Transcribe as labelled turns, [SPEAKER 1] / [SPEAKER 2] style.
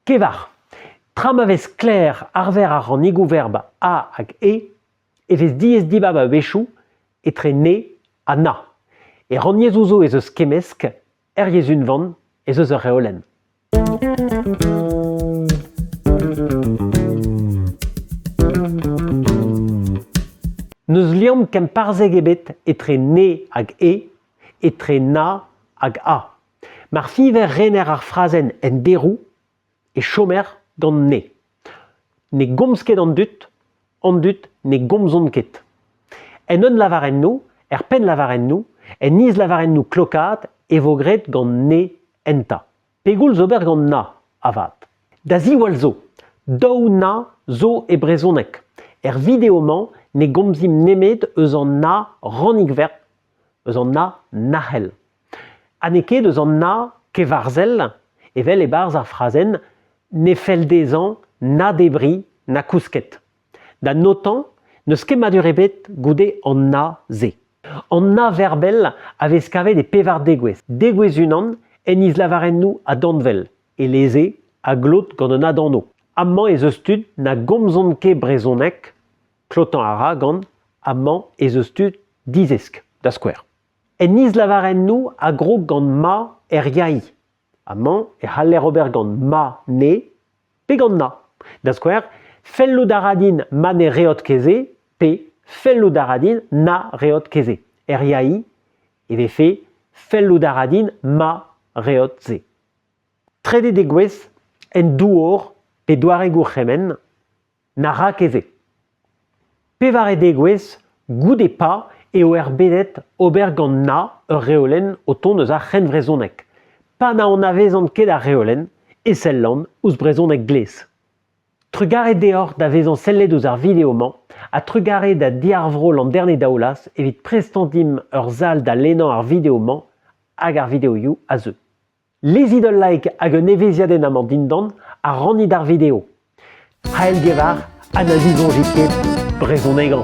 [SPEAKER 1] Kevar. Tra ma vez sklaer arver ar rannigoù-verb a hag e e vez diaes dibab a-wechoù etre ne ha na. E rannyezhoù zo ez eus kemmesk, er yezh unvan ez eus ur reolenn. N'eus liamm kemparzhek ebet etre ne hag e, etre na hag a. Mar fiver rener ar frazenn en deroù e chomer gant ne. Ne gomz ket an dud, an dud ne gomzont ket. En un lavarennoù, er pennlavarennoù, en islavarennoù klokaat e vo graet gant ne enta. Pegoulz ober gant na, avat? Da ziwall zo, daou na zo e brezhoneg. Er video-mañ ne gomzimp nemet eus an na rannig-verb eus an Na nac'hel. Ha n'eo ket eus an Na kevarzhel, evel e-barzh ar frazenn, ne fell dezhañ na debriñ na kousket. Da notañ, n'eus kemmadur ebet goude an Na-se. An Na verbel a vez kavet e pevar degouezh. Degouezh unan en islavarennoù adanvel, eleze a glot gant un adanv. Amañ ez eus tud na gomzont ket brezhoneg, klotañ a ra gant amañ ez eus tud dizesk, da skouer. En islavarennoù a grog gant ma er yaï. Amañ e c'haller ober gant ma ne pe gant na. Da skouer, fellout a ra din ma ne reot kezé pe fellout a ra din na reot kezé. Er yaï e vefe fellout a ra din ma reot se. Trede degouezh en douor pe doare gourc'hemenn Na ra ket se. Pevare degouezh goude pa eo erbedet ober gant na ur reolenn o tont eus ar c'hrennvrezhoneg. Pa na anavezan ket ar reolenn e sellan ouzh brezhoneg glez. Trugarez deoc'h da vezañ sellet ouzh ar video-mañ ha trugarez da diarvroll an dernier daoulaz evit prestan dimp ur sal da lennañ ar video-mañ hag ar videoioù a zeu. Lezit ul like hag un evezhiadenn amañ dindan ha rannit ar video. C'hael-gevar ha na zisoñjit ket brezhonegañ.